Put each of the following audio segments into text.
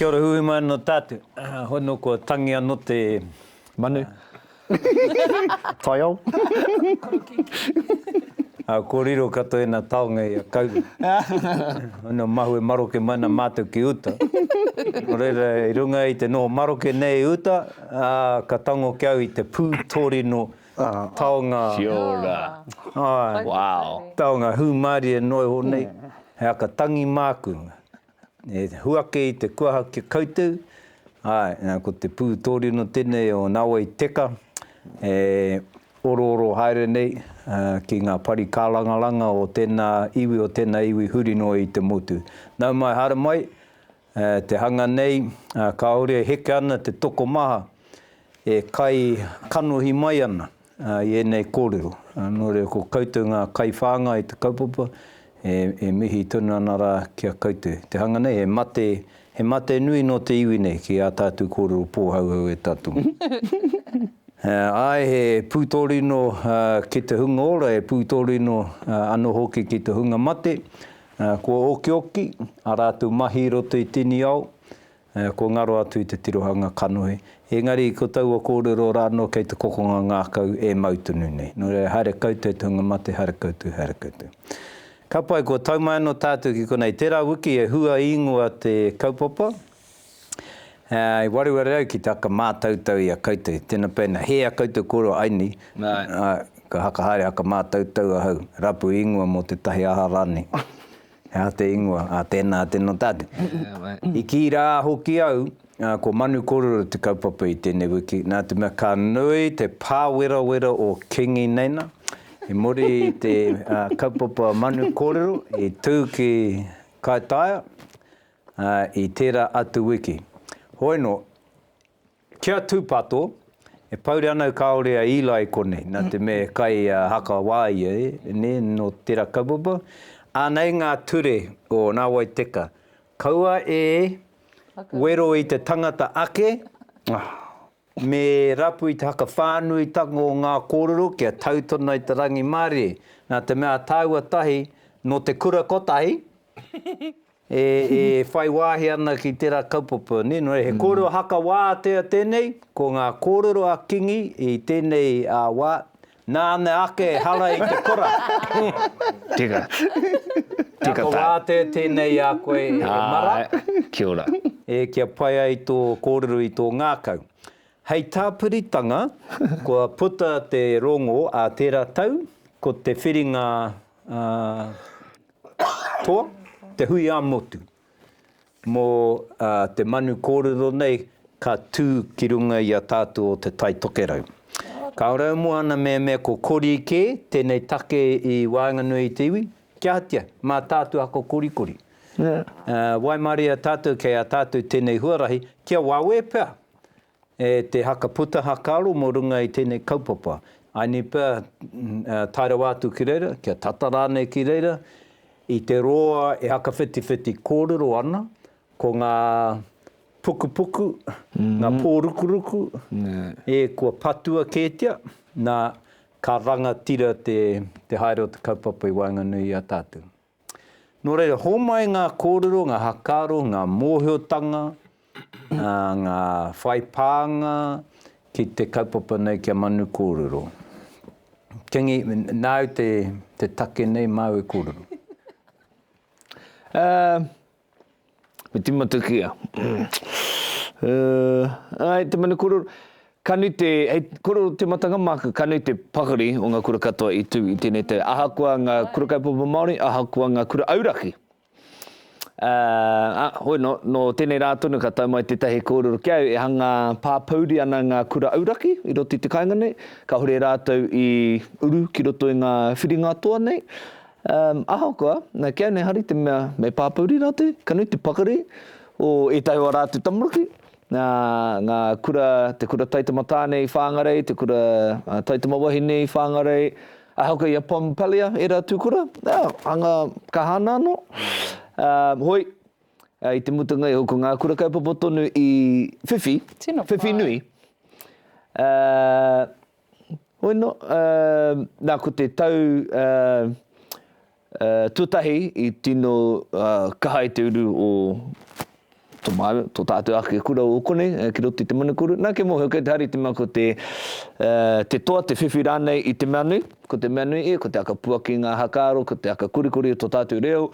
Kia ora huhu mai anō tātou. Hoi nō kua tangi anō te. Manu. Taiao. Ko riro katoa i nā taonga i a Kauru. Hoi nō mahue maroke mai nā mātou ki uta. Nō reira i runga i te noho maroke nei i uta, ka tango ki au i te pū tōrino Taonga. Kia ora. Ai. Wow. Taonga hūmārie noa iho nei, he aka tangi māku. E huake i te kuaha ki a koutou, āe, nā, ko te pū tōrino tēnei o Nāwai Teka, e orooro haere nei ki ngā pari kārangaranga o tēnā iwi, o tēnā iwi huri noa i te motu. Nau mai, haere mai. E te hanga nei, kāore e heke ana te tokomaha e kai kanohi mai ana i ēnei kōrero. Nō reira, ko koutou ngā kaiwhāngai i te kaupapa, e mihi tonu ana rā ki a koutou. Te hanga nei, he mate, he mate nui nō te iwi nei ki ā tātou kōrero pōhauhau e tātou. Āe, he pūtōrino ki te hunga ora, he pūtōrino anō hoki ki te hunga mate, Kua okioki a rātou mahi i roto i Tiniao, kua ngaro atu i te tirohanga kanohi. Engari ko taua kōrero rā anō kei te kokonga ngākau e mau tonu nei. Nō reira, haere koutou te hunga mate, haere koutou, haere koutou. Ka pai, kua tau mai anō tātou ki konei. Tērā wiki e hua īngoa te kaupapa. I waru a rau ki te aka mātautau i a koutou, tena pēnā, hē a koutou koroa ai nei, ā, ka haka haere aka mātautau ahau, rapu ingoa mō tētahi aha rānei, he aha te ingoa, ā, tēnā, tēnā tātou. I kī rā hoki au, ā, ko Manu kōrero te kaupapa i tēnei wiki, nā te mea ka nui te pāwerawera o Kingi nei nā, i muri i te kaupapa Manu kōrero i tū ki Kaitaia, Ā, i tērā atu wiki. Hoeno, ki a Tūpato, e pouri ana au kāore a Eli i konei, nā te mea e kai haka wā ia, nē, nō tērā kaupapa. Anei ngā ture o Nāwai Teka, kaua e wero i te tangata ake, me rapu i te whakawhānuitanga o ngā kōrero kia tau tonu ai te rangimārie, nā te mea a tāua tahi nō te kura kotahi, E whai wāhi ana ki tērā kaupapa, nē, nō reira, he kōrero haka wā tēnei, ko ngā kōrero a Kingi i tēnei wā, nāna ake hara i te kora. Tēnā. Tēnā ko wā tēnei i a koe e Mara. Kia ora. E kia pai ai tō kōrero i tō ngākau. Hei tāpiritanga, kua puta te rongō a tērā tau, ko te whiringa Ā toa, te hui ā-motu. Mō te manu kōrero nei ka tū ki runga i a tātou o Te Tai Tokerau. Ka ora au mō ana mea mea ko Kori kē tēnei take i waenganui i te iwi, kia hatia, mā tātou ako korikori. Waimarie tātou kei a tātou tēnei huarahi, kia wawe pea. E te haka puta hakaaro mo runga i tenei kaupapa. I ni pea tae rawa atu ki reira, kia tata ranei ki reira, i te roa e hakawhitiwhiti korero ana, ko nga pukupuku, nga po rukuruku, e kua patua ketia, na, ka rangatira te haere o te kaupapa i waenganui i a tatou. Nō reira, hōmai ngā kōrero, ngā hakaaro, ngā mōhiotanga, ngā whai pānga ki te kaupapa nei kia manu kōrero. Kingi, nāu te take nei māu e kōrero. Me timata ki a. Uh, ai, te manu kororo. Ka nui te, hei kororo te matanga māku, ka nui te pakari o ngā kura katoa i tū i tēnei tau. Ahakoa ngā kura kaupapa Māori, ahakoa ngā kura auraki. Uh, ah, hoi, no, no tēnei rā tonu ka tau mai tētahi kōrero ki au, e hanga pāpouri ana ngā kura auraki i roto i te kāinga nei, ka hore rātou i uru ki roto i ngā whiringa toa nei, Um, ahakoa, na, kei au nei hari te mea me pāpouri rātou, ka nui te pakari o ētahi o a rātou tamaruki, na, nga kura, te kura Taitamatāne i Whāngarei, te kura uh, Taitamawahine i Whāngarei, ahakoa i a Pompalia, ērā tūkura, na, hanga ka hana anō. Um, hoi, uh, i te mutunga iho, ko ngā kura kaupapa tonu i whiwhi, Tino whiwhi pai. nui, uh, Hoi no, na ko te tau tuatahi i tino kaha i te uru o to māu, to tātou ake kura o kone, eh, ki roto i te manukuru. Nā ke mōhio kei te hari te mea ko te, uh, te toa, te whiwhi rānei i te mea nui, ko te mea nui e, ko te aka puaki ngā hakaaro, ko te aka kurikuri o to tātou reo,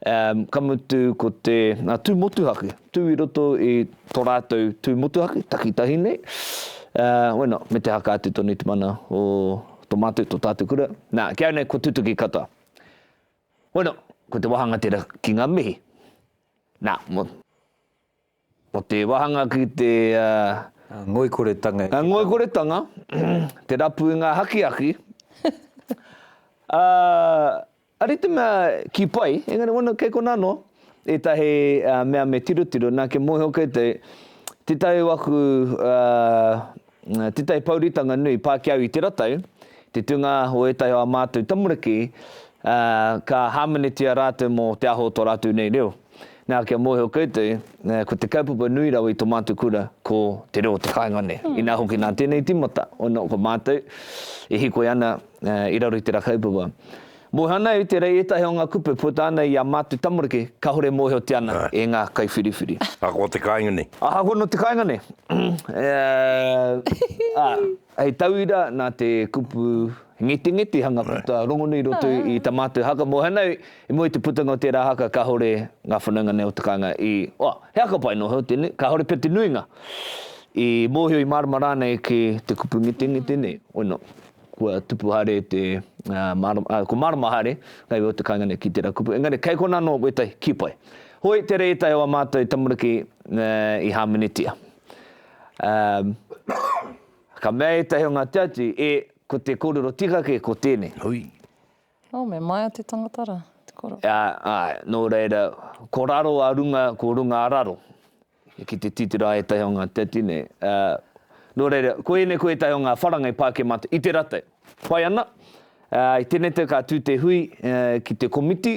um, ka mutu ko te uh, tū motuhake, Tū i roto i to rātou tū motuhake, takitahi nei, wena, me te haka atu tonu i te mana o to mātou, to tātou kura. Nā, ki au nei kua tutuki katoa. Wena, ko te wāhanga tera ki ngā mihi. Nā, mo, mo te wāhanga ki te... Uh, ngoikoretanga. Uh, ngoikoretanga, te rapu i ngā hakiaki. uh, Ari te mea ki pai, engari wano kei kona ano etahi mea me tirotiro, na kia moeho koutou, tetahi o aku, tetahi pouritanga nui pa ki au i te ratau, te tunga o etahi o a matou tamariki, ka hamenetia ratou mo te aho o to ratou nei reo. Na kia moeho koutou, ko te kaupapa nui rawa i to matou kura, ko te reo o te kainga nei. Ina hoki na tenei timata, ono ko matou e hikoi ana, i raro i tera kaupapa. Moeho ana e te rei etahi o nga kupe puta ana i a Matu Tamariki, kahore moehotia ana e nga kaiwhiriwhiri. Ahakoa te kainga nei. Ahakoa no te kainga nei. Hei tauira na te kupu ngetengetehanga puta rongonui i roto i ta matou haka. Moeho ana i mua i te putanga o tera haka kahore nga whanaunga nei o te kainga i, oa, he haka pai no hau tenei, kahore pea te nuinga i mohio i marama ranei ki te kupu ngetengete nei. Wena. Kua tupu haere te marama, ā, kua marama haere ngā iwi o te kāinga nei ki tērā kupu, engari kei konā anō wētahi kī pai. Hoi, tērā ētahi o ā mātou tamariki i hāmenetia. Ā, ka mea ētahi o ngā tiati, E, ko te kōrero tika kē, ko tēnei. Hui. Oh, me maea te tangata ra, te koro. Ā, āe, nō reira, ko raro a runga, ko runga a raro. Ki te titira ētahi o ngā teti nei. Ā, nō reira, ko ēnei ko ētahi o ngā wharanga i pā kē mātou. I te ratai, pai ana. Ā, i tēnei tau ka tū te hui ki te komiti,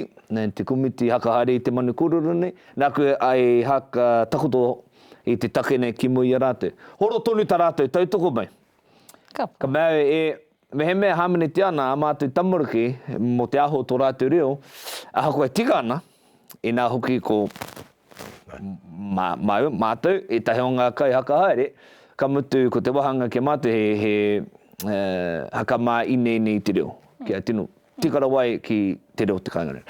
te komiti haka haere i te manu kōrero nei, nāku i haka takoto i te take nei ki mua i a rātou. Horo tonu tā rātou tautoko mai. Ka pai. Ka mea au, e. Mehemea e hāmenetia ana ā mātou tamariki mō te aho o tō rātou reo, ahakoa e tika ana, inā hoki ko mātou ētahi o ngā kaihaka haere, ka mutu ko te wāhanga ki a mātou he, he haka mā-ine-ine i te reo, kia tino tika rawa ai ki te reo o te kāinga reo.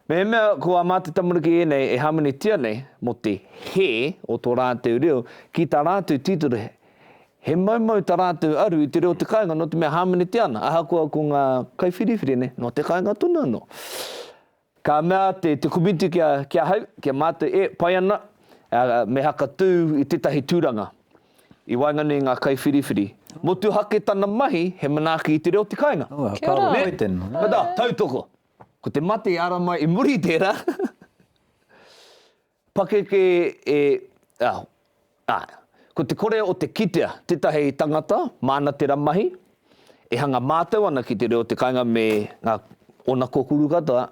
Mehemea ko a Mā Te Tamariki ēnei e hāmenetia nei mō te hē o tō rātou reo ki tā rātou titiro, he maumau tā rātou aru i te reo o te kāinga nō te mea hāmenetia ana, ahakoa ko ngā kaiwhiriwhiri nei nō te kāinga tonu anō. Ka mea te te komiti ki a, ki ahau, ki a mātou, e, pai ana, me haka tū i tētahi tūranga i waenganui i ngā kaiwhiriwhiri. Motuhake tana mahi he manaaki i te reo o te kāinga. Kia ora. Nē? Ka tautoko. Ko te mate e ara mai i muri i tērā pakeke e, ah, ah, ko te kore o te kitea tētahi tangata māna tērā mahi e hanga mātau ana ki te reo te kainga me ngā ōna kōkuru katoa,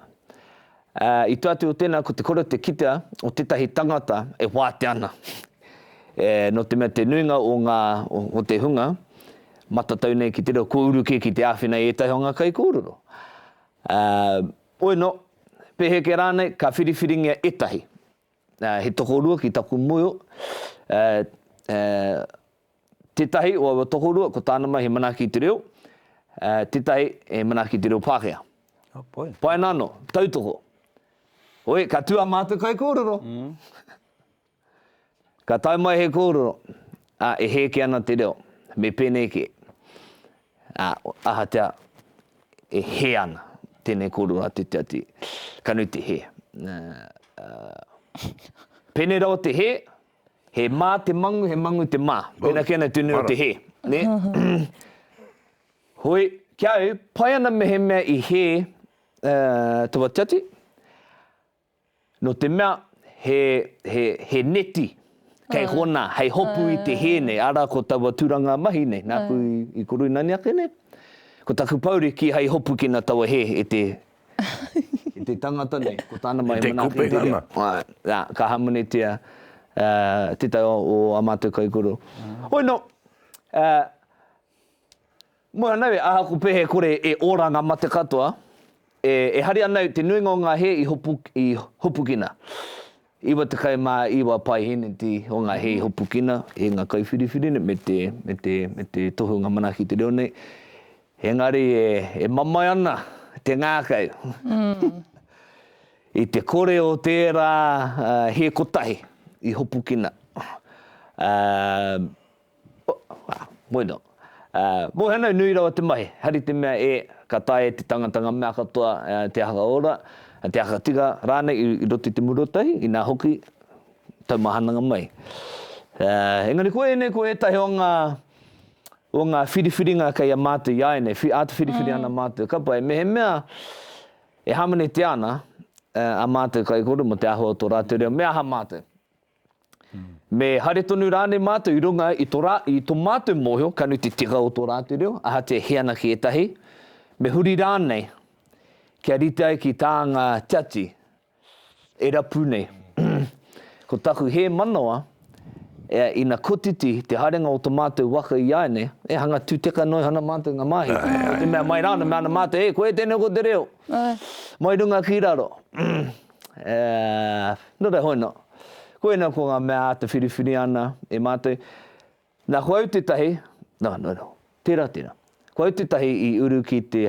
ah, i te atu o tēnā ko te kore o te kitea o tētahi tangata e wātea ana. Eh, nō te mea te nuinga o ngā, o te hunga, Matatau nei ki te reo kua uru kē ki te āwhina i ētahi o ngā kaikōrero. Ā, ueno, peheke rānei, ka whiriwhiringia ētahi. Ā, he tokorua ki taku moe, ā, ā, tētahi o aua tokorua, ko tāna mai he manaaki i te reo, ā, tētahi he manaaki i te reo Pākehā. Oh boy. Pai ana anō, tautoko. Oi, ka tū ā mātou kaikōrero. Ka tae mai he kōrero, ā, e hēke ana te reo, me pēnei kē, ā, ahatea e hē ana tēnei kōrero a te tiati, ka nui te hē. Pēnei rawa te hē, he mā te mangu, he mangu te mā. Pēnā kēnā te nui o te hē. Hoi, ki a au, pai ana mehemea i hē taua tiati, No te mea, he, he, he neti kei hona hei hopu i te hē nei, ara ko taua turanga mahi nei, nāku i, i Koruinani ake nei, ko taku pouri ki hei hopu ki na taua hē e te, e te tangata nei, ko tāna mai e manaaki te reo. Āe, nā, ka hamunetia tētahi o ā mātou kaikoro. Hoi nō, Moe ana au e ahaku pea e kore e ora nga mate katoa, e e hari ana au te nuinga o nga he i i hopukina. Iwa tekau ma iwa paiheneti o nga he i hopukina i nga kauwhiriwhiri nei me te me te me te tohunga manaki te reo nei, engari e e mamae ana te ngakau i te kore o tera he kotahi i hopukina. Bueno. Mo hanau nui rawa te mahi, hari te mea e, ka taea e te tangata nga mea katoa, te aha ora, te aha tika ranei i roto i te muru o tahi, ina hoki, taumahananga mai. Engari ko enei ko etahi o nga, o nga whiriwhiringa kei a matou i a enei, ata whiriwhiri ana matou kapa e mehemea e hamanetia ana a matou kaikoro mo te ahua o to ratou reo, me aha matou? Me haere tonu rānei mātou i runga i to rā, i to mātou mōhio, ka nui te tika o tō rātou reo, ahatia he ana ki ētahi, me huri rānei kia rite ai ki tā ngā tiati e rapu nei. Ko taku hē manawa, ea, ina kotiti te haerenga o to mātou waka i āinei, e hanga tūteka noa iho ana mātou i ngā māhī, me te mea mai rānei, me ana mātou, e, koe tēnei ko te reo, mai runga ki raro. Nō reira hono. Koina ko ngā mea āta whiriwhiri ana e mātou. Nā, ko au tētahi, nā, nō reira, tērā, tērā. Ko au tētahi i uru ki te,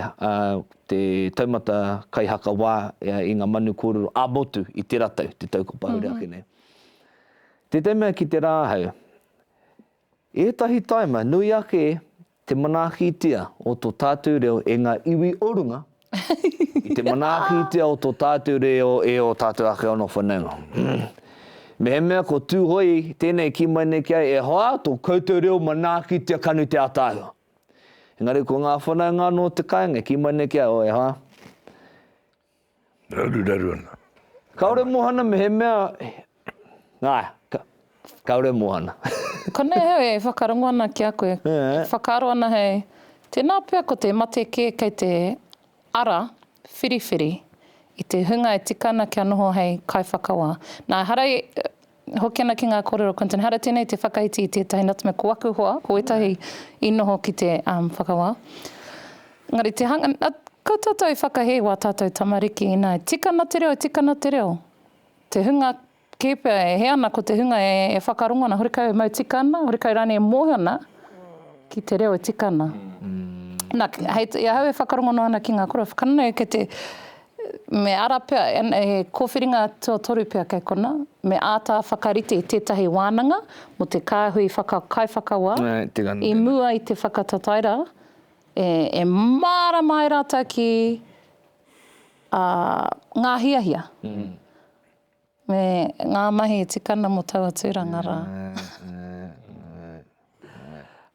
te taumata kaihakawā i ngā manu kōrero ā-motu i tērā tau, te tau kua pahure ake nei. Tētahi mea ki te rā ahau, Ētahi taima nui ake te manaakitia o to tātou reo e ngā iwi o runga i te manaakitia o to tātou reo e o tātou ake ono whanaunga. Mehemea ko Tūhoe tēnei ki mai nei ki a e hoa to koutou reo manaakitia kanu te ataahua. Engari ko ngā whanaunga anō te kainga ki mai nei ki a o e hoa. Raruraru ana. Kaore mohana mehemea nga kaore mohana. Konei hau e whakarongo ana ki a koe. E whakaaro ana hei, tēnā pea ko te mate kē kei te ara whiriwhiri i te hunga e tika ana kia noho hei kaiwhakawā. Nā, ehara i Hoki ana ki ngā kōrero Quinton Hara tēnei te whakaiti i tētahi nutmeg ko aku hoa ko ētahi i noho ki te whakawā engari te hanga a ko tātou i whakahē wā tātou tamariki ina tika na te reo tika na te reo te hunga kē pea e hē ana ko te hunga e e whakarongo ana hore kau e mau tika ana hore kau rānei e mōhio ana ki te reo e tika ana na hei i ahau e whakarongo noa ana ki ngā kōrero whakano nei kei te Me ara pea, he kōwhiringa tuatoru pea kei konā, me āta whakarite i tētahi wānanga mō te kāhui kaiwhakawā i mua i te whakatatairā, e mārama ai rātou ki ngā hiahia. Me ngā mahi tikana mo taua tūranga rā.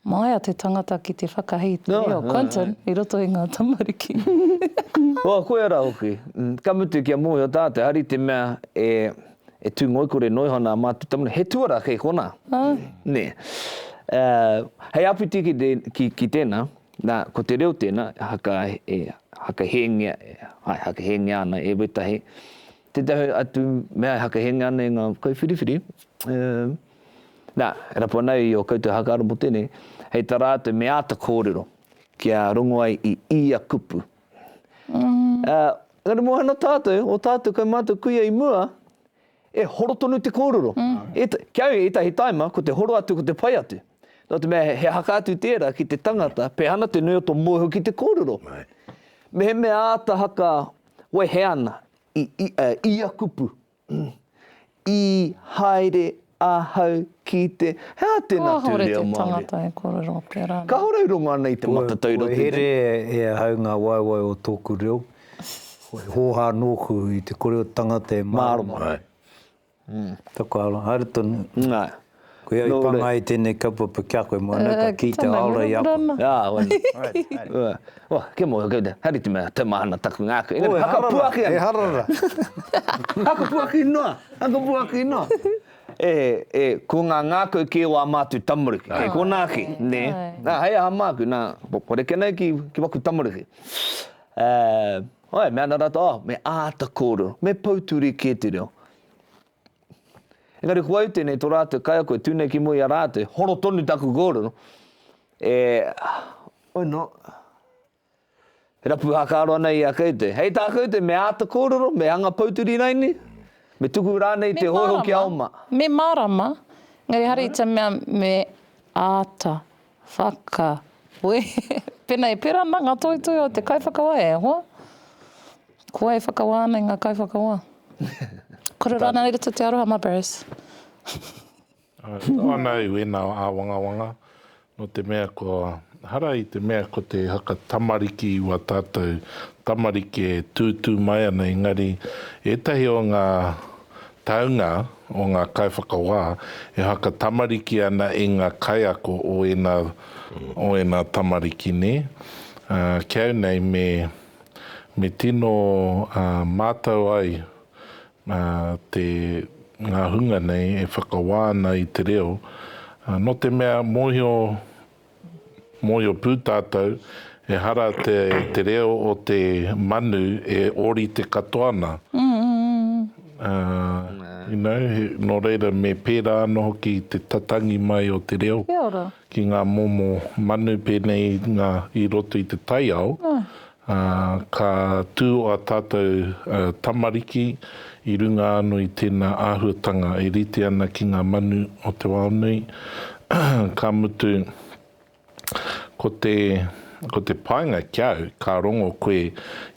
Māia te tangata ki te whakahī i te reo, Quentin, i roto i ngā tamariki. Wā, koia rā hoki. Ka mutu kia mōhio tātou, hari te mea e tū ngoikore noa iho ana ā mātou tamariki, he tuarā kei konā. Nē. Hei āpiti ki tēnā, nā, ko te reo tēnā e hakahēngia, āe, hakahēngia ana e Wētahi, Tētahi atu mea e hakehengia ana e ngā kaiwhiriwhiri, e, nā, e rapu ana i ō koutou hakaaro mō tēnei, hei tā rātou me āta kōrero kia rongo ai i ia kupu. Ā, engari mō ana tātou, ō tātou kai mātou kuia i mua, e horo tonu te kōrero. E, ki a au ētahi tāima, ko te horo atu ko te pai atu. Nō te mea, he haka atu tērā ki te tangata, pehana te nui o tō mōhio ki te kōrero. Mehemea āta haka wehe ana i ia kupu, I haere ahau ki te. He aha tēnā tū reo Māori? Kāhore te tangata e kōrero pērā nei. Kāhore i rongo ana i te matatau i roto i te. Kua here e ahau ngā waewae o tōku reo, kua hōhā nōku i te kore o te tangata e mārama ai. Taku aroha, haere tonu. Koia i panga ai tenei kaupapa ki a koe mo ana ka ki te aora i a koe. Ā, wena. Alrighty, haere. Ua, kia mau, haere te mea, te mahana taku ngākau. Engari, hakapuaki ana. E harara, e harara. Hakapuaki noa, hakapuaki noa. E, e, ko ngā ngākau kē o ā mātou tamariki, kei konā ki, nē. Nā, hei aha māku, nā, ko rekenei ki, ki waku tamariki. Ā. Ae, me ana rata, oh, me ata korero, me pouturi ke te reo. Engari ko au tenei to ratou kaiako e tu nei ki mua i a ratou, horo tonu taku korero, e, oh no, e rapu hakaro ana i a koutou. Hei ta koutou, me ata korero, me anga pouturi raini, me tuku ranei te hoiho ki a oma. Me marama, engari hare i te mea me ata Whakawehe. Pēnā e pērā ana ngā toetoe o te kaiwhakawa, e hoa, ko wai e whakawā ana i ngā kaiwhakawa? Kore rānei i roto te aroha mā Barris? Anei wēnā āwangawanga, nō te mea kua hara i te mea ko te haka tamariki wā tātou tamariki e tūtū mai ana, engari ētahi o ngā taunga o ngā kaiwhakawā e whakatamariki ana i ngā kaiako o ēnā, o ēnā tamariki nē? Ki au nei me, me tino mātau ai te, ngā hunga nei e whakawā ana i te reo, nō te mea mōhio, Mōhio pū tātou, ehara te reo o te manu e ōrite katoa ana. You know, nō reira me pērā ana hoki te tatangi mai o te reo ki ngā momo manu pēnei i ngā, i roto i te taiao, Ā, ka tū ā tātou tamariki i runga anō i tēnā āhuatanga e rite ana ki ngā manu o te wao nui, ka mutu, ko te, ko te painga ki au, ka rongo koe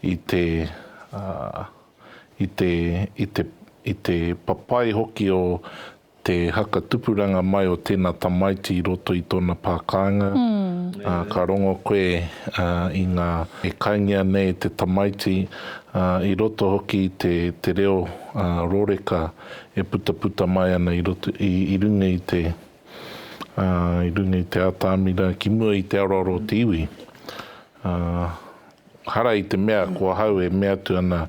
i te, ā, i te, i te, i te papai hoki o Te haka tupuranga mai o tēnā tamaiti i roto i tōna pā kāinga, ā, ka rongo koe, ā, i ngā, e kaingia nei te tamaiti, ā, i roto hoki i te, te reo, ā, rōreka e putaputa mai ana i roto, i, i runga i te, ā, i runga i te ātamira, ki mua i te aroaro o te iwi. Ā, hara i te mea ko ahau e mea atu ana,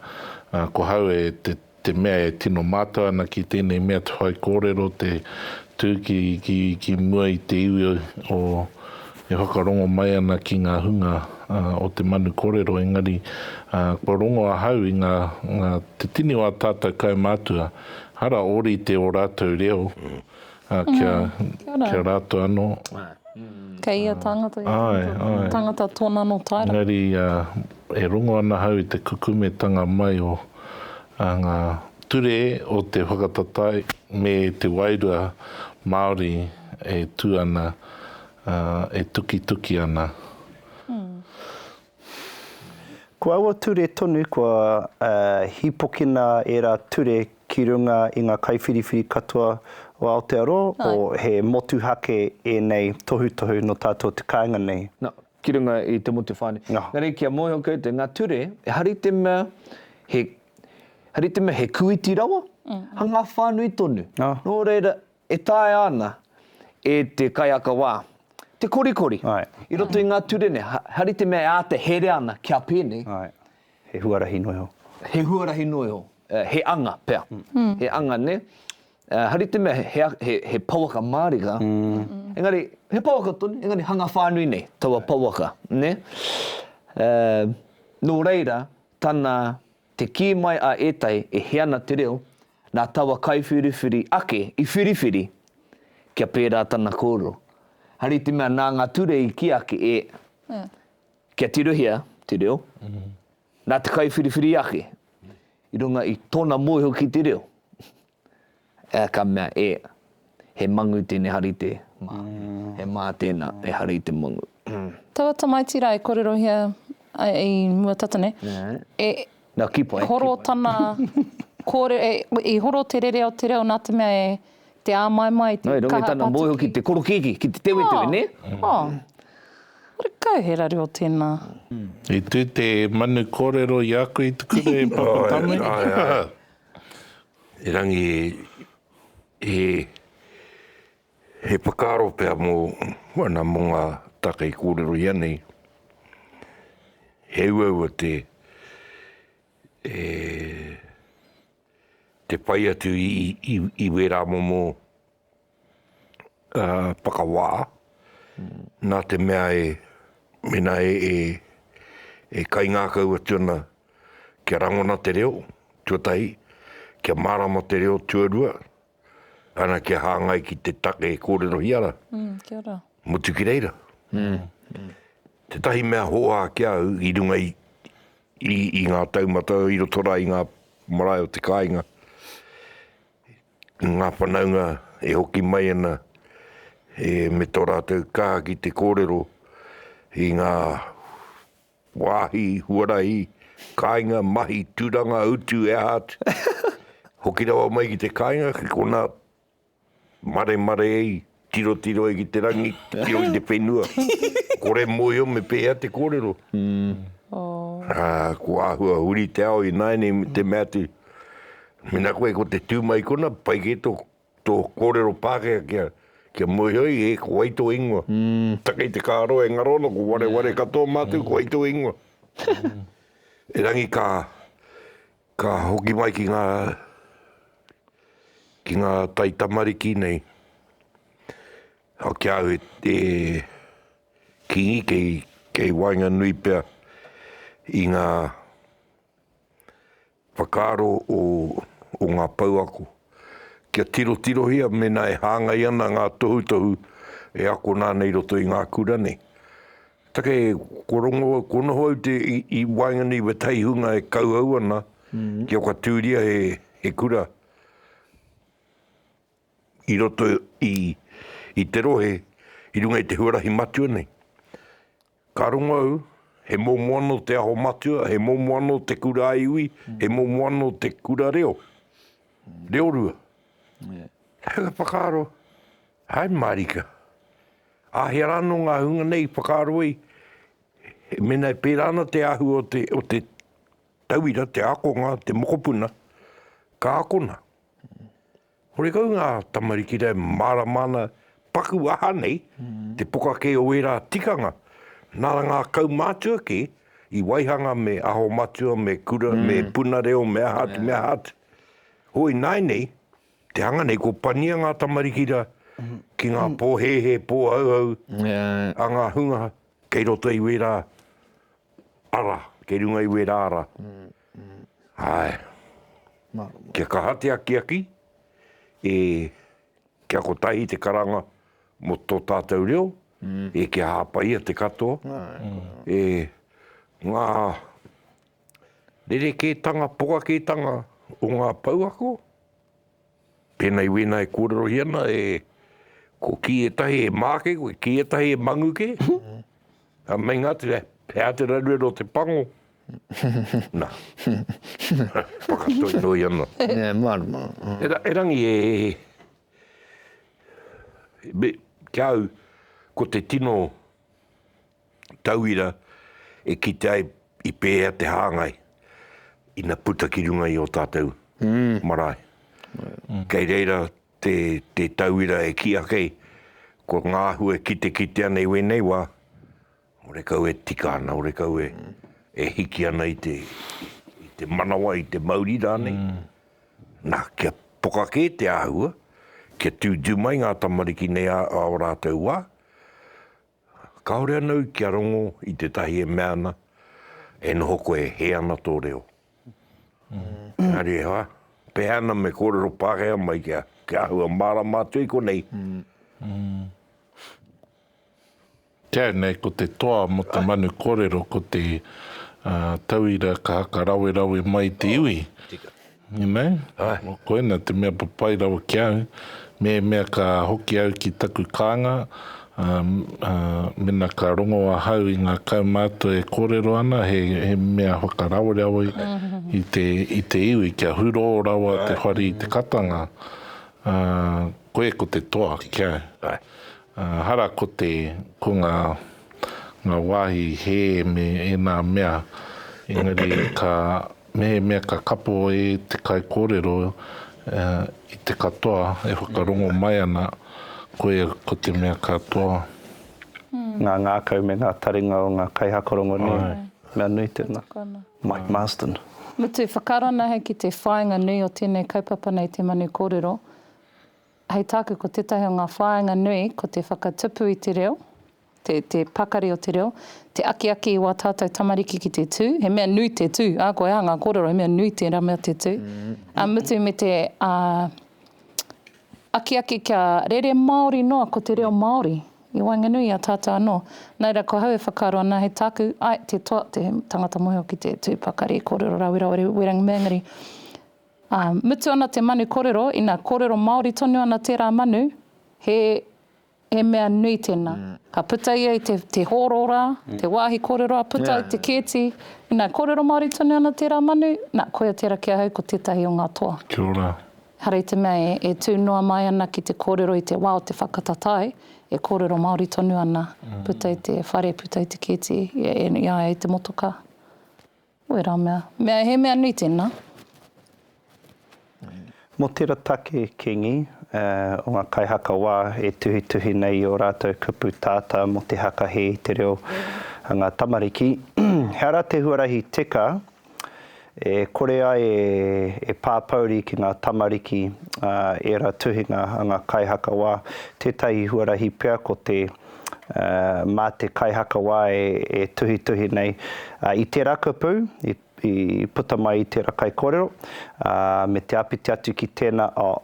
ā, ko hau e te. te mea e tino mātau ana ki tēnei mea te whai kōrero, te tū ki, ki, ki mua i te iwi o, e whakarongo mai ana ki ngā hunga uh, o te manu kōrero, engari uh, kua rongo ahau i ngā, ngā te tini o a tātou kaumātua, ara ōrite o rātou reo. Mm. Ā, kia, kia rātou anō. Kei ia tāngata, ia tāngata, tāngata tōna anō taera. Engari, ā, e rongo ana ahau i te kukumetanga mai o ngā ture o te whakataetae me te wairua Māori e tū ana, ā, e tukituki ana. Ko aua ture tonu kua hīpokina ērā ture ki runga i ngā kaiwhiriwhiri katoa o Aotearoa, he motuhake ēnei tohutohu nō tātou te kāinga nei. Nā, ki runga i te motu whānui. Engari kia moe hoki koutou, ngā ture, ehara i te mea he, ehara i te mea he kūiti rawa, hanga whānui tonu. Nō reira, E taea ana e te kaiaka wā, te korikori, i roto i ngā ture nei, hari te mea e āta herea ana kia pēnei. Āe, he huarahi noa iho. He huarahi noa iho, he anga pea, he anga, nē. Hari te mea he pouaka mārika, engari, he pouaka tonu, engari hanga whānui nei taua pouaka, nē. Nō reira, tana, te kī mai a ētahi e hē ana te reo, Nā taua kaiwhiriwhiri ake i whiriwhiri kia pērā tana kōrero. Hari te mea nā ngā ture i kī ake e kia tirohia te reo, nā te kaiwhiriwhiri ake i runga i tōna mōhio ki te reo, ka mea e. He mangu tēnei hari te mā. He mā tēnā, he hari te mangu. Taua tamaiti rā e kōrerohia ai i mua tata nei, e horo tana kōrero, i horo te rere o te reo nā te mea e te āmaimai, te kaha pātuki. Nō, i runga i tana mōhio ki te korokēki, ki te tewetewe, nē? Ō, karekau he rareo tēnā. I tū te manu kōrero i a koe i te kura e Papatame? Āe, āe, āe. Erangi. He whakaaro pea mō ana mō ngā take i kōrero i a nei, he uaua te whai atu i wērā momo whakawā, nā te mea e, mēnā e kaingākau atu ana kia rangona te reo, tuatahi, kia mārama te reo, tuarua, ana kia hāngai ki te take e kōrerohia ana. Mm, kia ora. Mutu ki reira. Mm. Mm. Te tahi mea hoa ki au i runga i, i, i ngā taumata i roto rā i ngā marae o te kāinga. Ngā whanaunga e hoki mai ana e me tō rātou kaha ki te kōrero i ngā Wāhi, huarahi, kāinga, mahi, turanga, utu, e aha atu. Hoki rawa mai ki te kāinga, ki konā, maremare ai, tirotiro ai ki te rangi, titiro ki te whenua. Kore mōhio me pēhea te kōrero. Ā, ko āhua huri te ao ināianei me te mea atu, Mēnā koe ko te tū mai kona, pai kē tō Tō kōrero Pākehā kia, kia moeoi e, ko wai tō ingoa? Taka i te kāro e ngaro ana, ko wareware katoa mātou, ko wai tō ingoa? Erangi ka, ka hoki mai ki ngā, ki ngā taitamariki nei, kia au e, e kīngi kei, kei waenganui pea i ngā, Whakaaro o ngā pouako. Kia tirotirohia mēnā e hāngai ana ngā tohutohu e akona ana i roto i ngā kura nei. Take, kua rongo au, kua noho au i waenganui i wētahi hunga e kauhau ana kia whakatūria he kura i roto i te rohe i runga i te huarahi matua nei. Ka rongo au, he momo anō te aho matua, he momo anō te kura iwi, he momo anō te kura reo. Reo rua. He aha te whakaaro? Hai mārika. Āhea rā anō ngā hunga nei i whakaaro ai, mēnā e pērā ana te āhua o te, o te tauira, te ākonga, te mokopuna, ka akona. Horekau ngā tamariki e mārama ana paku aha nei te poka kē o ērā tikanga, nā ngā kaumātua kē i waihanga me aho matua, me kura, me puna reo, me aha atu, me aha atu. Hou ināinei, te hanga nei kua pania ngā tamariki rā ki ngā pōhēhē, pōhauhau a ngā hunga kei roto i wērā ara, kei runga i wērā ara. Ae. Kia kaha te akiaki, e kia kotahi te karanga mo to tatou reo, e kia hapaia te katoa, e nga rereketanga pokaketanga o nga pouako, Pēnei wēna e kōrerohia ana e, ko kī ētahi he māke koe, kī ētahi he mangu kē. Ā, meinga atu e, he aha te raruraru o te pango? Nā. Whakatoitoi ana. Nē, mārama. Erangi e, me, ki a au, ko te tino, tauira e kite ai i pēhea te hāngai ina puta ki runga i ō tātou marae. Kei reira te, te tauira e kī ake, ko ngā āhua e kitekite ana i wēnei wā, orekau e tika ana, orekau e, e hiki ana i te, i te manawa, i te mauri rānei. Nā, kia poka kē te āhua, kia tūtū mai ngā tamariki nei ā, ā ō rātou wā, Kāore anau kia rongo i tētahi e mea ana, e noho koe e hē ana tō reo. Engari e whā, pēhana me kōrero Pākehā mai kia, kia āhua mārama atu i konei. Kei nei ko te toa mo te manu korero ko te tauira ka haka rawerawe mai te iwi. Tika. Inai, koina te mea papai rawa ki au, mēmea ka hoki au ki taku kānga, mena ka rongo ahau i ngā kaumātua e kōrero ana, he mea whakarawereawe i te iwi, kia hurō rawa te whare i te katanga, koe ko te toa ki au. Ehara ko te, ko ngā, ngā wāhi hē me ēnā mea, engari ka, mehemea ka kapo e te kaikōrero i te katoa e whakarongo mai ana, koia ko te mea ka toa. Ngā ngākau me ngā taringa o ngā kaihaka rongonui. Mea nui tēnā. Mike Marsden. Mutu, whakaranahau ki te whāinga nui o tēnei kaupapa nei te Manu Kōrero. Hei tāku ko tētahi o ngā whāinga nui ko te whakatupu i te reo, te, te pakari o te reo, te akiaki i wā tātou tamariki ki te tū, he mea nui te tū, ā, koe ā, ngā kōrero, he mea nui tērā mea te tū, ā, mutu me te ā, akiaki kia rere Māori noa ko te reo Māori i waenganui i a tātou anō. Nā reira, ko hau e whakaaro ana, hei tāku, ai, te toa, te tangata mōhio ki te tū pakari, kōrero rāwerawe, wearing mangere, Ā, mutu ana te manu korero, ina korero Māori tonu ana tērā manu, he, he mea nui tēnā. Ka puta ia i te, te hōro rā, te wāhi korero a puta i te kēti, ina korero Māori tonu ana tērā manu, nā, koia tērā ki ahau ko tētahi o ngā toa. Kia ora. Ehara i te mea e, e tū noa mai ana ki te kōrero i te wā o te whakatatāe, e kōrero Māori tonu ana, puta i te whare, puta i te kēti, i a ia i te motokā. Wera mea. Mea he mea nui tena. Mo tera take, Kingi, o nga kaihaka wa e tuhituhi nei i o ratou kupu tata mo te hakahe i te reo a nga tamariki, he ara te huarahi teka e kore ai e papouri ki nga tamariki era tuhinga a nga kaihaka wa, tetahi huarahi pea ko te. mā te kaihakawā e tuhituhi nei i tērā kupu i puta mai i tērā kaikōrero, me te āpiti atu ki tēnā, oh,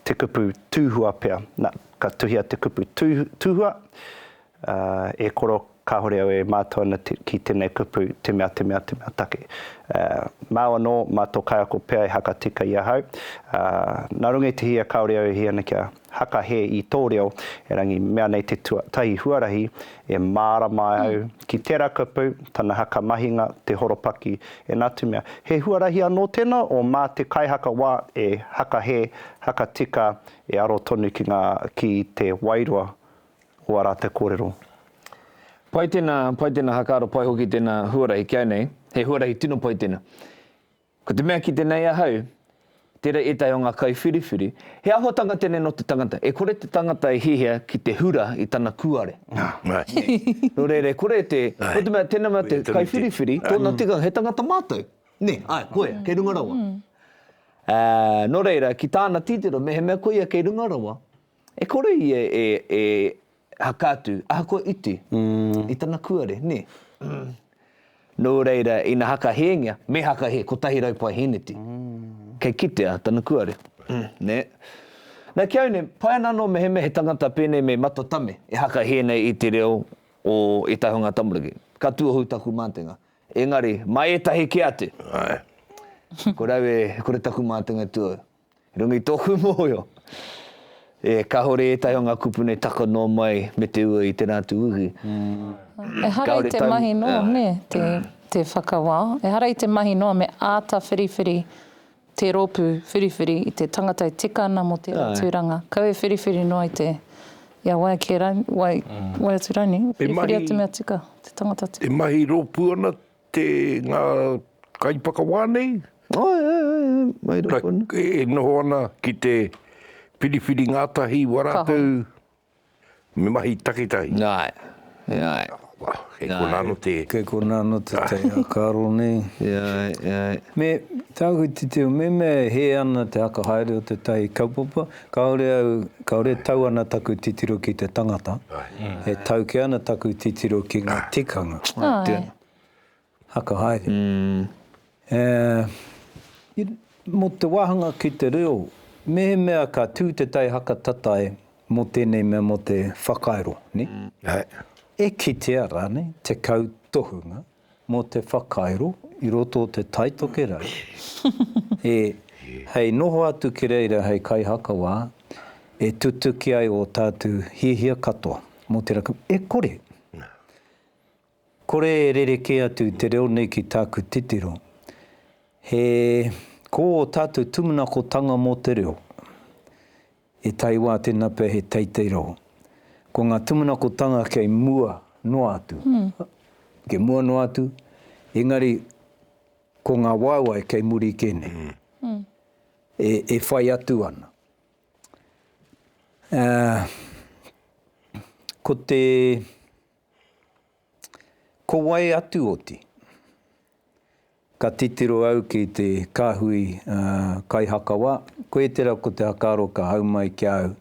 te kupu tūhua pea. Nā, ka tuhia te kupu tūhua, e koro kāore au e mātau ana ki tēnei kupu te mea, te mea, te mea take. Māu anō, mā tō kaiako pea e hakatika i ahau. Nā runga i te hia kāore au e hia ana kia. Haka he i tō reo, erangi, mea nei te tuatahi huarahi e mārama ai au ki tērā kupu, tana haka mahinga, te horopaki, ēnā atu mea. He huarahi anō tēnā o mā te kaihaka wā e haka hē, haka tika, e aro tonu ki ngā, ki te wairua o ā rātou kōrero. Pai tēnā, pai tēnā haka aro, pai hoki tēnā huarahi, kia nei, he huarahi tino pai tēnā. Ko te mea ki te nei ahau, tera etahi o nga kaiwhiriwhiri, he ahotanga tenei no te tangata, e kore te tangata e hihia ki te hura i tana kuare. No reira e kore te, no te mea tena mea te kaiwhiriwhiri, tona tikanga, he tangata matou. Ne, ae, koia, kei runga rawa. No reira, ki tana titiro, mehemea koia kei runga rawa, E kore ia e haka atu, ahakoa iti, i tana kuare, nē? Nō reira, ina haka hēngia, me haka he kotahi rau pae hēneti, kei kitea tana kuare, nē? Nā, ki au nei, pai ana anō mehemea he tangata pēnei me Matatame e haka hē nei i te reo o ētahi o ngā tamariki. Ka tuohu taku mātenga. Engari, mā ētahi kē atu, kore au e, kore taku mātenga e tuohu. I runga i tōku mōhio, e kāore ētahi o ngā kupuna e taka noa mai me te ua i tērā atu uhi. Ehara i te mahi noa me te whakawao, ehara i te mahi noa me āta whiriwhiri te rōpū whiriwhiri i te tangata e tika ana mō tērā tūranga. Kau e whiriwhiri noa i te, ia, wai atu rānei, whiriwhiri atu mea tika, te tangata tika. E mahi rōpū ana Te ngā kaiwhakawā nei. Āe, āe, āe, āe, mai rā konā. Ka, e noho ana ki te whiriwhiri ngātahi wā rātou me mahi takitahi. Āe, e āe. Kei konā anō te. Kei konā anō te tei ākaro nei. E āe, e āe. Me, tāku te teo, me mea e hē ana te haka haere o te tahi kaupapa, Kāore au, kāore e tau ana taku titiro ki te tangata, e tau kē ana taku titiro ki ngā tikanga. Āe, tēnā. Haka haere. E, i, mō te wāhanga ki te reo, mehemea ka tū te tai hakatatae mō tēnei mea mō te whakairo, nē? E kitea rānei te kautohunga? Mō te whakairo i roto o te Tai Tokerau e hei noho atu ki reira hei kaihakawā e tutuki ai ō tātou hiahia katoa mō te rapu. E kore, kore e rerekē atu te reo nei ki tāku titiro. He, ko ō tātou tumunakotānga mō te reo, I taewa te nape he teitei rau. Ko nga tumanakotanga kei mua noa atu. Kei mua noa atu, engari ko nga waewae kei muri ke nei. E whai atu ana. Ko te. Ko wai atu oti? Ka titiro au ki te kāhui kaihakawā, koe tera ko te hakaaro ka hau mai ki a au,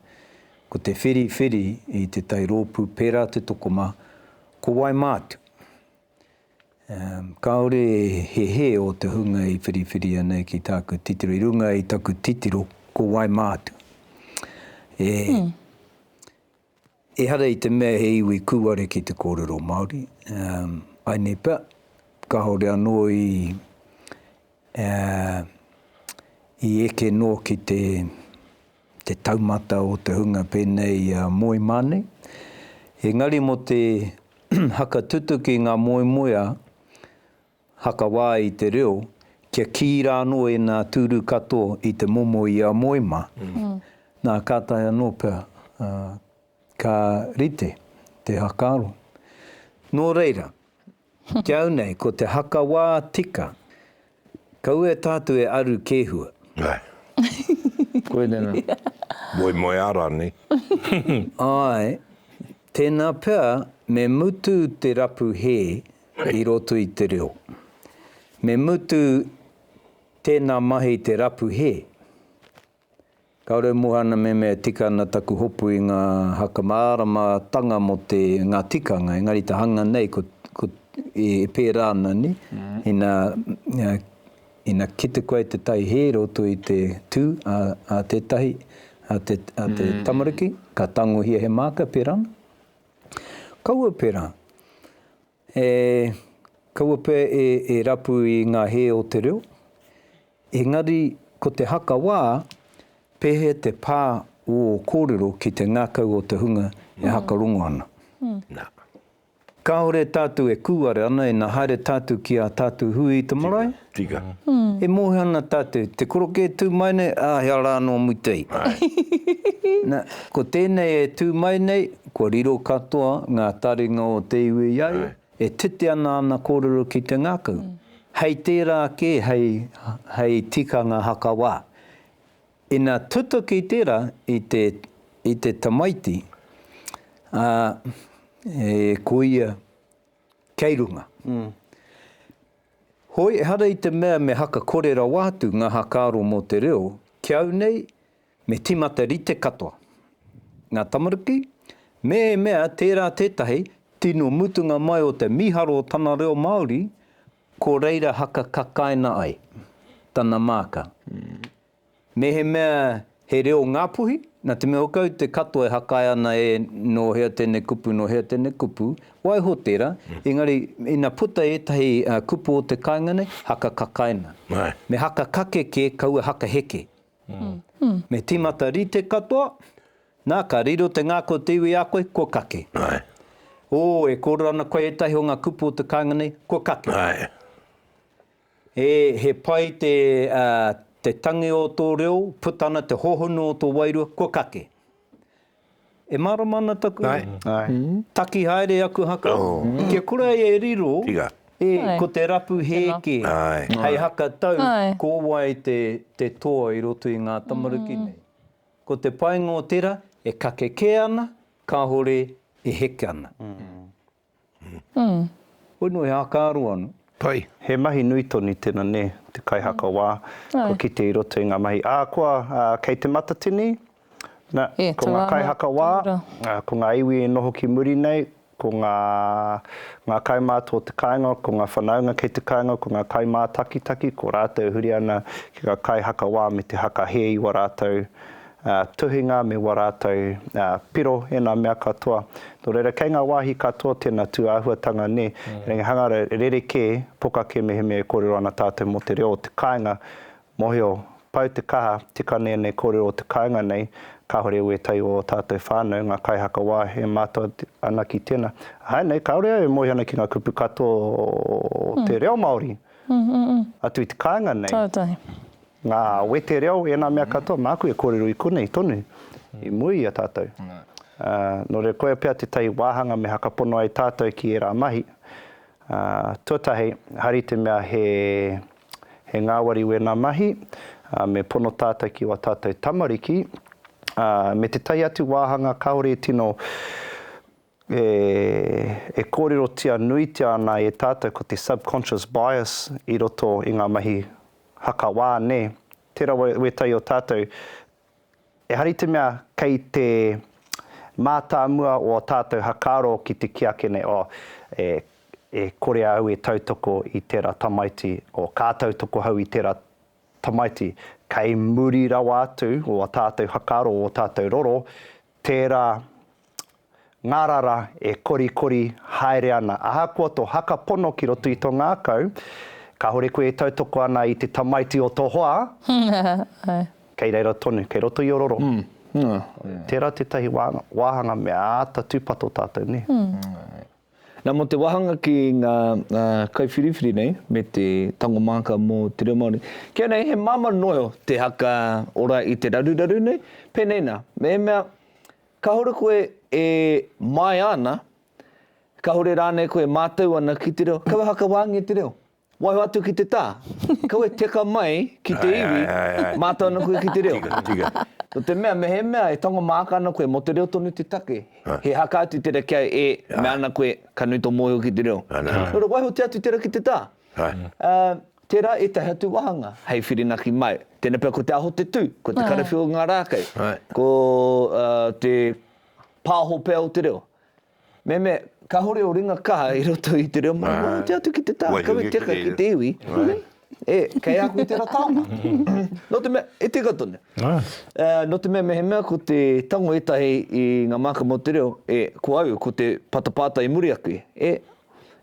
ko te whiriwhiri i te tai rōpū pērā te tokomā, ko wai mātu? Kāore he hē o te hunga i whiriwhiria nei ki tāku titiro, i runga i taku titiro, ko wai mātu? E. Ehara i te mea he iwi kūare ki te kōrero Māori, I nei pea, kāore anō i eke noa ki te taumata o te hunga pēnei i a Moeimā nei. Engari mō te hakatutuki i ngā moemoeā, Hakawā i te reo, kia kī rānō e nā tūru katoa i te momo i a moe mā, nā kātahi anō pea ka rite te hakaaro. Nō reira, ki au nei ko te hakawā tika, kaua e tātou e aru kēhua. Koinei nā. Moemoeā rānei? Āe, Tēnā pea me mutu te rapu hē i roto i te reo. Me mutu tēnā mahi te rapu hē. Kāore au moe ana me mea tika ana taku hopu i ngā haka māramatanga mō te, ngā tikanga, engari te hanga nei ko, ko, e pērā ana nei, ina, Ina kite koe te tai hē roto i te tū a tētahi, a te tamariki, ka tangohia he māka, pērā ana. Kaua pērā, e, kaua pea e rapu i ngā hē o te reo. Engari, ko te haka wā, pēhea te pā o ō kōrero ki te ngākau o te hunga e haka rongo ana? Kāore tātou e kūare ana ina haere tātou ki ā tātou hui i te marae. Tika, tika. E mōhio ana tātou, te korokē e tū mai nei, ā, he ara anō mutei. Na, ko tēnei e tū mai nei, kua riro katoa ngā taringa o te iwi i a ia, e titi ana āna kōrero ki te ngākau. Hei tērā kē, hei, hei tikanga hakawā, Ina tutuki tera i te i te tamaiti, a, e koia kei runga. Hoi ehara i te mea me hakakore rawa atu nga hakaaro mo te reo, ki au nei me timata rite katoa nga tamariki, mehemea tera tetahi tino mutunga mai o te miharo o tana reo Maori, Ko reira haka kakaina ai tana maaka. Mehemea he reo Ngapuhi, na te mea kau te katoa e hakae ana e no hea tenei kupu, no hea tenei kupu, waiho tera, engari ina puta etahi kupu o te kainga nei, haka kakaina. Me haka kake ke, kaua haka heke. Me tīmata rite katoa, nā, ka riro te ngākau o te iwi i a koe, kua kake. Ō, e kōrero ana koe ētahi o ngā kupu o te kāinga nei, kua kake. E, he pai te, ā, te tangi o tō reo, puta ana te hohonu o tō wairua, kua kake. E mārama ana taku taki haere aku haka kia kura e riro e ko te rapu hē kē hei haka tau ko wai te toa i roto i ngā tamaruki nei. Ko te painga o tera e kake kē ana kahore e heke ana. Hoi no he aka aro ano. Pai. He mahi nui tonu tena ne, te kaihakawa, kua kite i roto i nga mahi a koa kei te matatini, na, ko nga kaihakawa, ko nga iwi e noho ki muri nei, ko nga nga kaumātua o te kāinga, ko nga whanaunga kei te kāinga, ko nga kaimātakitaki, ko ratou e huri ana ki nga kaihakawa me te haka he i wa ratou Ā, tuhinga me wā rātou, ā, piro ēnā mea katoa. Nō reira, kei ngā wāhi katoa tēnā tūāhuatanga, nē, engari hangara rerekē, pokakē mehemea e kōrero ana tātou mō te reo o te kāinga, mōhio, pau te kaha, tika nei ēnei kōrero o te kāinga nei, kāore au ētahi o ō tātou whānau, ngā kaihakawā e mātau ana ki tēnā. Āe nei, kāore au e moe ana ki ngā kupu katoa o te reo Māori atu i te kāinga nei. Kātahi. Ngā wete reo, ēnā mea katoa, māku e kōrero i konei tonu, i mua i a tātou. Ā, nō reira koia pea tētahi wāhanga me hakapono ai tātou ki ērā mahi. Ā, tuatahi, hari te mea he, he ngāwari wēnā mahi, ā, me pono tātou ki wā tātou tamariki, ā, me tētahi atu wāhanga kāore e tino e kōrerotia nuitia ana e tātou ko te subconscious bias i roto i ngā mahi haka wā, nē? Tērā wētahi o tātou, ehara i te mea kei te mātāmua o ō tātou hakaaro ki te kī ake nei, oh, e kore au e tautoko i tērā tamaiti, oh, ka tautoko au i tērā tamaiti. Kei muri rawa atu o ō tātou hakaaro, o ō tātou roro, tērā ngārara e korikori haere ana. Ahakoa tō haka pono ki roto i tō ngākau, kāore koe e tautoko ana i te tamaiti o tō hoa, kei reira tonu, kei roto i ororo. Tērā tētahi wāhanga me āta tūpato tātou, nē. Nā, mō te wāhanga ki ngā kaiwhiriwhiri nei me te tango māka mō te reo Māori, ki a nei he māmā noa te haka ora i te raruraru nei, pēnei nā, mehemea Kāore koe e māia ana, kāore rānei koe e mātau ana ki te reo, kaua hakawaangia te reo. Waiho atu ki te tā, kaua e teka mai ki te iwi, mātau ana koe ki te reo. Nō te mea, mehemea e tango māka ana koe mō te reo tonu te take, he haka atu tērā kia e mea ana koe ka nui tō mōhio ki te reo. Nō reira, waihotia atu tērā ki te tā. Tērā ētahi atu wāhanga hei whirinaki mai. Tēnei pea ko te aho te tū, ko te karawhiu o ngā rākei, ko te pāho pea o te reo. Mehemea kāore o ringa kaha i roto i te reo Māori, waiho kē atu ki te taha kawe teka ki te iwi, e, kei a koe tērā taonga. Nō te mea, e tika tonu. Nō te mea mehemea ko te tango ētahi i ngā mākama o te reo, e, ko au, ko te patapātai i muri ake, e,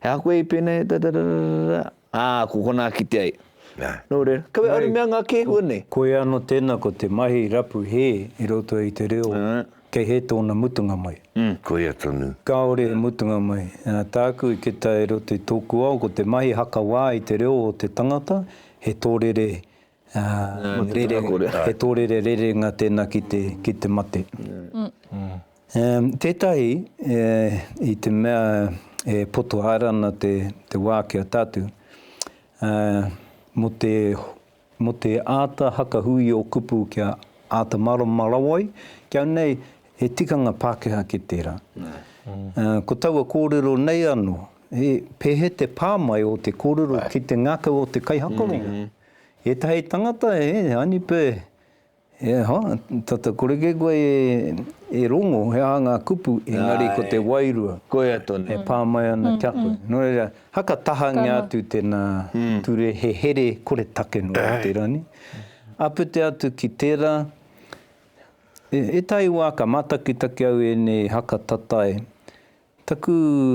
he aha koe i pēnei, rarararara, Ā, ko konā kite ai. Nō reira, kaua e aru mea ngā kēhua nei. Koia anō tēnā ko te mahi rapu hē i roto i te reo kei hē tōna mutunga mai. Koia tonu. Kāore he mutunga mai. Tāku i kita i roto i tōku ao ko te mahi haka wā i te reo o te tangata he tōrere He tōrere rerenga tēnā ki te, ki te mate. Tētahi, i te mea e poto haere ana te, te wā ki a tātou, mō te, mō te āta hakahui ō kupu kia āta mārama rawa ai, kia nei he tikanga Pākehā ki tērā. Ko taua kōrero nei anō, he, he te pā mai o te kōrero ki te ngākau o te kaihakoronga. Etahi tangata e Anipe, e aha, tata kore kē koe e rongo he aha ngā kupu, engari ko te wairua e pā mai ana ki a koe. Nō reira, haka tahangia atu tēnā ture, he here kore take noa i tērā nei. Apete atu ki tērā, etahi wā ka mātakitaki au ēnei haka tatae, Taku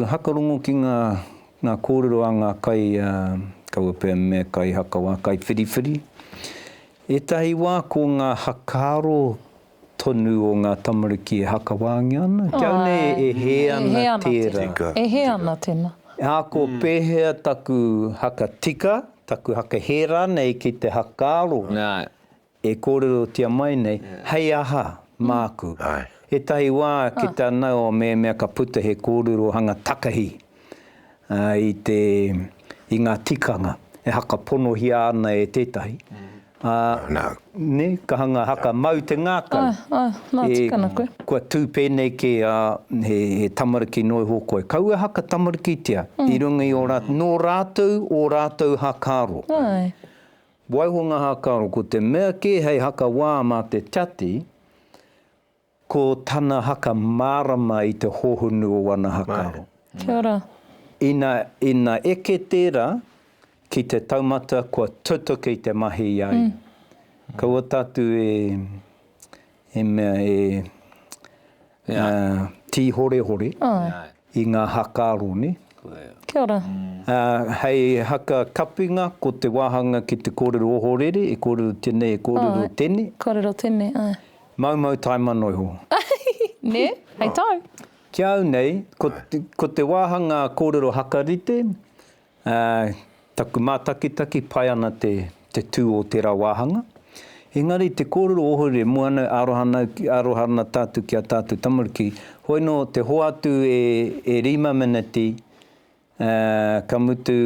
hakarongo ki ngā ngā kōrero a ngā kai kaua pea me kai hakawā, kai whiriwhiri. Ētahi wā ko ngā hakaaro tonu o ngā tamariki e hakawāngia ana, kia au nei e hē ana tērā. Tika. E hē ana tēnā. Ā, ko pēhea taku hakatika, taku hakahē rānei ki te hakaaro? Nā, E kōrerotia mai nei, hei aha, māku. Ētahi wā ki tā Naoa mehemea ka puta he kōrerohanga takahi i te, i ngā tikanga e hakaponohia ana e tētahi, ā, nē, ka hanga haka mau te ngākau. Kua tū pēnei kē ā, he tamariki noa iho koe. Kaua e haka tamarikitia i runga i ō rātou, nō rātou ō rātou hakaaro. Waiho ngā hākaro, ko te mea kē hei haka wā mā te Tiati, ko tana haka mārama i te hohonu o ana hākaro. Kia ora. Ina, ina eke tērā ki te taumata kua tutuki te mahi i a ia. Kaua tātou e. He mea e tīhorehore i ngā haka aro, nē? Kia ora. Hei haka kapinga, ko te wāhanga ki te kōrero ohorere, e kōrero tenei, e kōrero tenei. Kōrero tenei, āe. Maumau taemano iho. Nē? Hei tau. Ki au nei, ko te wāhanga kōrero hakarite, Ā, taku mātakitaki, pai ana te, te tū o tērā wāhanga. Engari, te kōrero ohore, mua ana, aroha ana, aroha ana tātou ki ā tātou tamariki. Hoi nō, te hoatu e, e rima meneti, ā, ka mutu,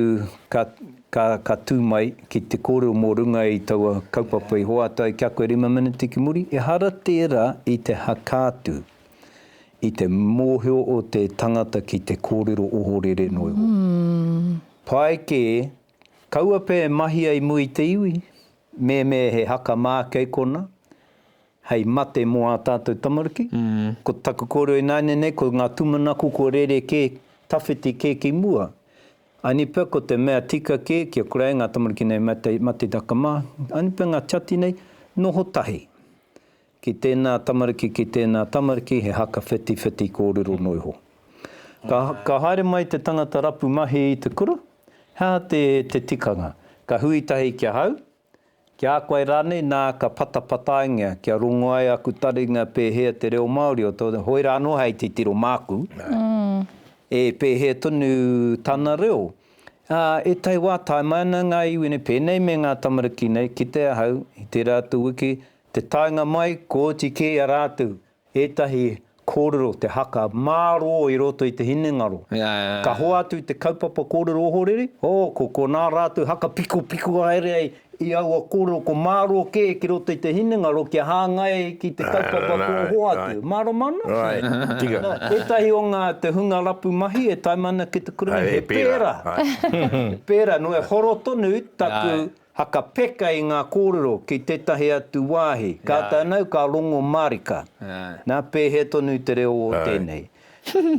ka, ka, ka tū mai ki te kōrero mō runga i taua kaupapa i hoatu ai ki a koe rima meneti ki muri, ehara tērā i te hakā tū. I te mōhio o te tangata ki te kōrero ohorere noa iho. Pai kē, kaua pea e mahia i mua i te iwi, mēmē he haka mā kei konā, hei mate mō ā tātou tamariki. Ko taku kōrero ināianei nei, ko ngā tūmanako kua rere kē, tawhiti kē ki mua. Aini pea ko te mea tika kē, kia kura ai ngā tamariki nei mate, mate taka mā, aini pea ngā tiati nei, noho tahi. Ki tēnā tamariki, ki tēnā tamariki, he haka whitiwhiti kōrero noa iho. Ka, ka haere mai te tangata rapu mahi i te kura, he aha te, te tikanga? Ka hui tahi ki ahau, ki a koe rānei, nā, ka patapataingia, kia rongo ai aku taringa pēhea te reo Māori o tō, hoi rā anō hei titiro māku, e pēhea tonu tana reo. Ā, e tai wā, tae mai ana ngā iwi nei, pēnei me ngā tamariki nei, kite ahau, i tērā atu wiki, Te taenga mai, kua oti kē i a rātou ētahi kōrero te haka mārō i roto i te hinengaro. Ka hoatu i te kaupapa kōrero ohorere, oh, ko konā rātou haka pikopiko haere ai i aua kōrero, ko mārō kē ki roto i te hinengaro kia hāngai ai ki te kaupapa kua hoatu. Mārama ana? Nā, ētahi o ngā te hunga rapu mahi e taima ana ki te kurunga, he pērā. He pērā, nō e horo tonu taku Haka peka i ngā kōrero ki tētahi atu wāhi, ka tanau, ka rongo mārika. Nā, pēhea tonu te reo o tēnei.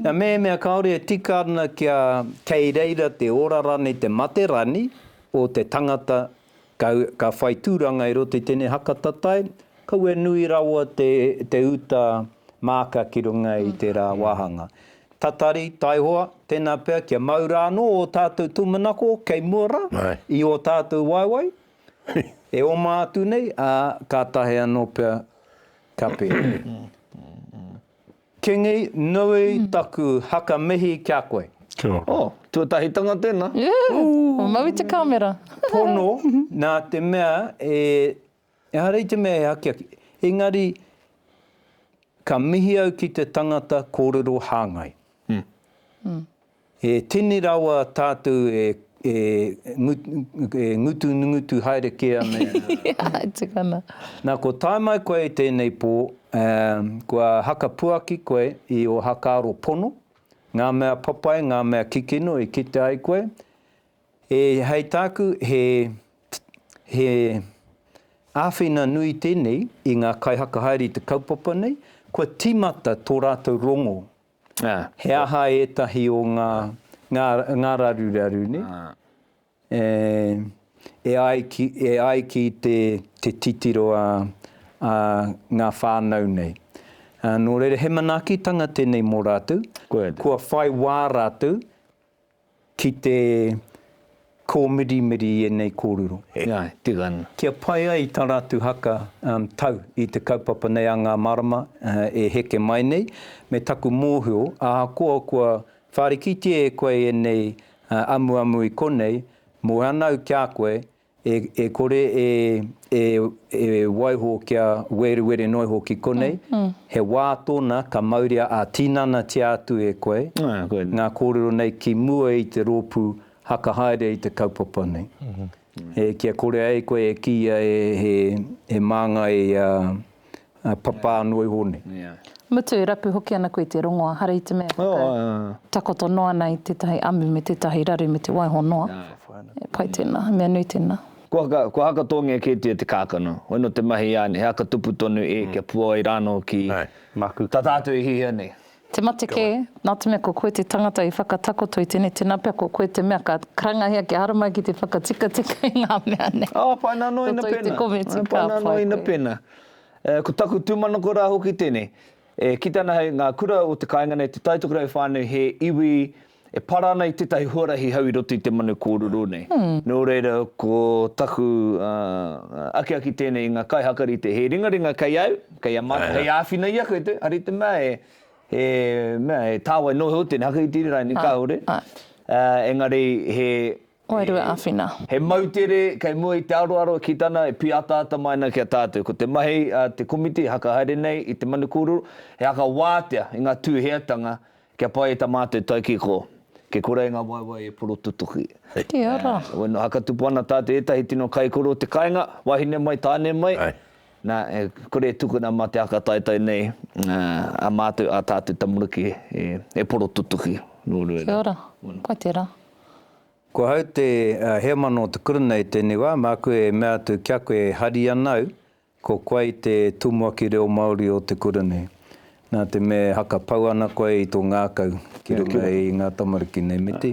Nā, mehemea kāore e tika ana kia kei reira te ora rānei te mate rānei o te tangata ka, ka whai tūranga i roto i tēnei haka tatae, kaua e nui rawa te, te uta māka ki runga i tērā wāhanga. Tatari, taihoa, tēnā pea kia mau rā anō ō tātou tūmanako kei mua rā i ō tātou waewae e oma atu nei, ā, kātahi anō pea ka pēnei. Kingi, nui taku haka mihi ki a koe. Kia ora. Oh, tuatahitanga tēnā. Yeah, mau i te kāmera. Pono, nā te mea e Ehara i te mea he akiaki, engari ka mihi au ki te tangata kōrero hāngai. E tini rawa tātou e ngutungutu haere kē ana i a. Nā, kua tae mai koe i tēnei pō, kua hakapuaki koe i ō hakaaro pono, ngā mea papai, ngā mea kikino i kite ai koe, E hei tāku he he āwhina nui tēnei i ngā kaihaka haere i te kaupapa nei, kua tīmata tō rātou rongo. He aha ētahi o ngā ngā ngā raruraru nei e e ai ki e ai ki te te titiro a a ngā whānau nei. Nō reira he manaakitanga tēnei mō rātou, kua whai wā rātou Ki te kōmirimiri i ēnei kōrero. Kia pai ai tā rātou haka tau i te kaupapa nei a ngā marama e heke mai nei, me taku mōhio, ahakoa kua whārikitia e koe ēnei amuamu i konei, mō anau ki a koe, E, e kore e, e, e waiho kia werewere noa iho ki konei, he wā tōna ka mauria ā-tinanatia atu e koe ngā kōrero nei ki mua i te rōpū haka haere i te kaupapa nei. E, kia kore ai koe e kīia e, he, he māngai a, Ā, papa noa iho nei. Mutu e rapu hoki ana koe i te rongoa, hara i te mea e whakatakoto noa ana i tētahi amu me tētahi raru me te waiho noa. He pai tēnā, he mea nui tēnā. Kua haka tōngia kētia te kākano, hoi nō te mahi i a Anne, he haka tupu tonu e kia puawai rānō ki tā tātou e hihia nei. Te mate kē, nā te mea ko koe te tangata i whakatakoto i tēnei tēnā pea ko koe te mea ka karangahia kia haramai ki te whakatikatika i ngā mea nei. Ā, pai nā noa ina pēnā. Ko toi te kometi, ka pai koe. Pai nā noa ina pēnā. Ko taku tūmanako rā hoki tēnei, e kita ana hei ngā kura o te kāinga nei, te Taitokerau whānui he iwi E para ana i tētahi huarahi hau i roto i te manu kōrero nei. Nō reira, ko taku akiaki tēnei i ngā kaihakarite, he ringaringa kei au, kei a mātou, hei āwhina i a koe, hari te mea e, he mea, he tāwai noho au tēnei hakahitere rānei, kāore. Engari he. Wairua āwhina. He moutere kei mua i te aroaro ki tana e pīataata mai ana ki a tātou. Ko te mahi a te komiti e hakahaere nei i te manu kōrero, he haka wātea i ngā tūheatanga Kia pai ta matou taikiko. Ke kura e nga waewae e poro tutuki. Te ara. Wena haka tupu ana ta te etahi tino kaikoro o te kainga, wahine mai, tane mai. Ai. Na, e kore e tukuna ma te haka taetae nei, a matou, a tatou tamariki e poro tutuki. No reira. Kia ora. Pai te ra. Ko hau te heamana o te kurunei tenei wa, maku e mea atu kia koe e hari ana au, Ko koe te tumuaki reo Māori o te kura nei. Nā te mea e hakapau ana koe i tō ngākau ki runga i ngā tamariki nei, me te.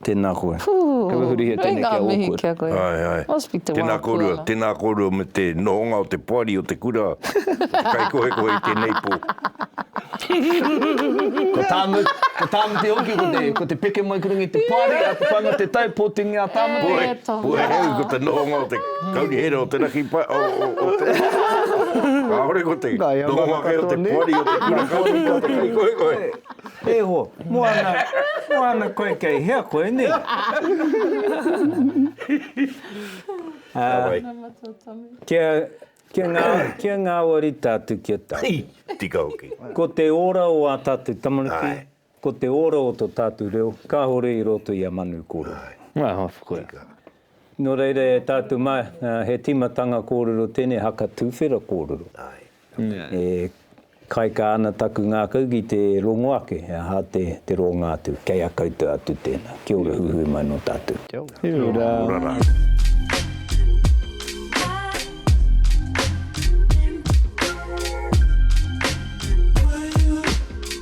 Tēnā koe. Kia wehurihia tēnei kia awkward. Āe, āe. Tēnā kōrua, tēnā kōrua me te nohonga o te poari o te kura, o te kaikohekohe i tēnei pō. Ko Tāmu, ko Tāmu te hoki, ko te, ko te peke mai ki runga i te poari, a Te Paenga-te-tau, pōtingi a Tāmu te. Puehu, puehu, ko te nohonga o te. Kauri here o te raki pa, o, o, o te... Kāore ko te, Nā, e noho ake o te poari o te kura kauri ko te kai koe koe. E ho, moana, moana koe kei hea koe, ne? Tāwai. Kia, kia, ngā, kia ngāwari tātu kia tātu. Tika hoki. Ko te ora o ā tātu tamariki. Ai. Ko te ora o to tatu reo, kahore i roto i a manu koro. Aha, tika. No reira e tatu ma, he timatanga korero tenei haka tuwhera korero. E kaika ana taku ngakau ki te rongo ake, aha te, te ronga atu. Kei a koutou atu tena. Kia ora huhui mai no tatu. Kia ora. Kia ora. Kia ora ra.